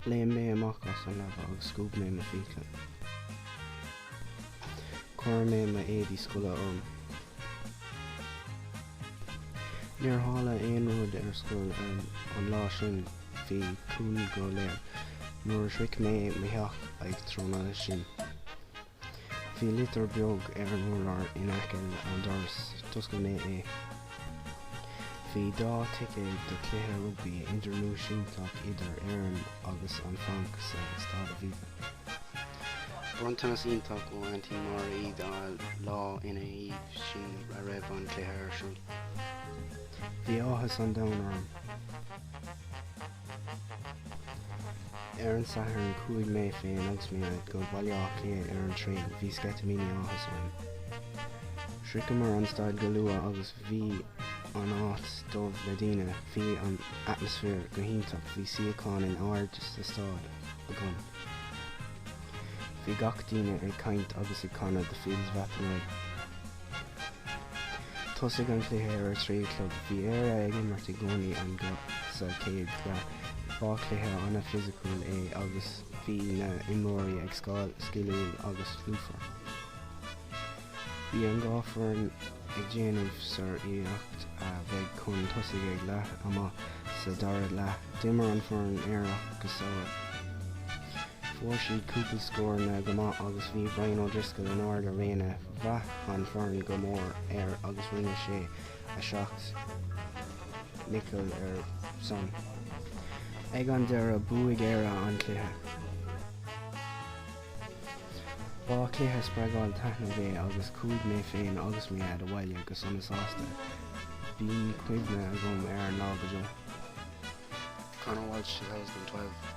Léim mé amach as an leaba agus scuab mé mo fiacla. Chuir mé mo éadaí scoile orm. Níor tharla aon rud ar scoil an lá sin, bhí ciúin go léir. Nuair a shroich mé mo theach ag tráthnóna sin. Bhí litir bheag ar an urlár in aice leis an doras. D'oscail mé é. Bhí dhá ticéad do chluiche rugbaí idirnáisiúntach idir Éirinn agus an Frainc sa Staid Aviva. Bronntanas iontach ó Aintín Máire. Dhá lá ina dhiaidh sin a raibh an cluiche ar siúl. Bhí áthas an domhain orm. Ar an Satharn chuaigh mé féin agus mo dhaid go Baile Átha Cliath ar an traein, bhí sceitimíní áthais orainn. Shroicheamar an staid go luath agus bhí an áit dubh le daoine, bhí an atmaisféar go hiontach, bhí suíocháin in airde sa staid agam. Bhí gach duine ag caint agus ag canadh The Fields of Athenry. Thosaigh an cluiche ar a trí a chlog. Bhí Éire ag imirt i gcoinne an ghaoth sa chéad leath. Ba chluiche an-fhisiciúil é agus bhí na imreoirí ag sciliúil agus lúfar. Bhí an dhá foireann ag déanamh sár-iarracht a bheith chun tosaigh ag leath ama. Sa dara leath d'imir an fhoireann Éireannach go soiléir. Fuair siad cúpla scóranna go maith agus bhí Brian O'Driscoll in ard a réime Bhraith an fhoireann go mór air agus rinne sé a sheacht ndícheall ar son. Ag an deireadh bhuaigh Éire an cluiche. Ba cluiche spreagúil taitneamhach é agus chuaigh mé féin agus mo Dhaid abhaile go sona sásta. Bíonn cuimhne agam ar an lá go deo. Conor Walsh 2012.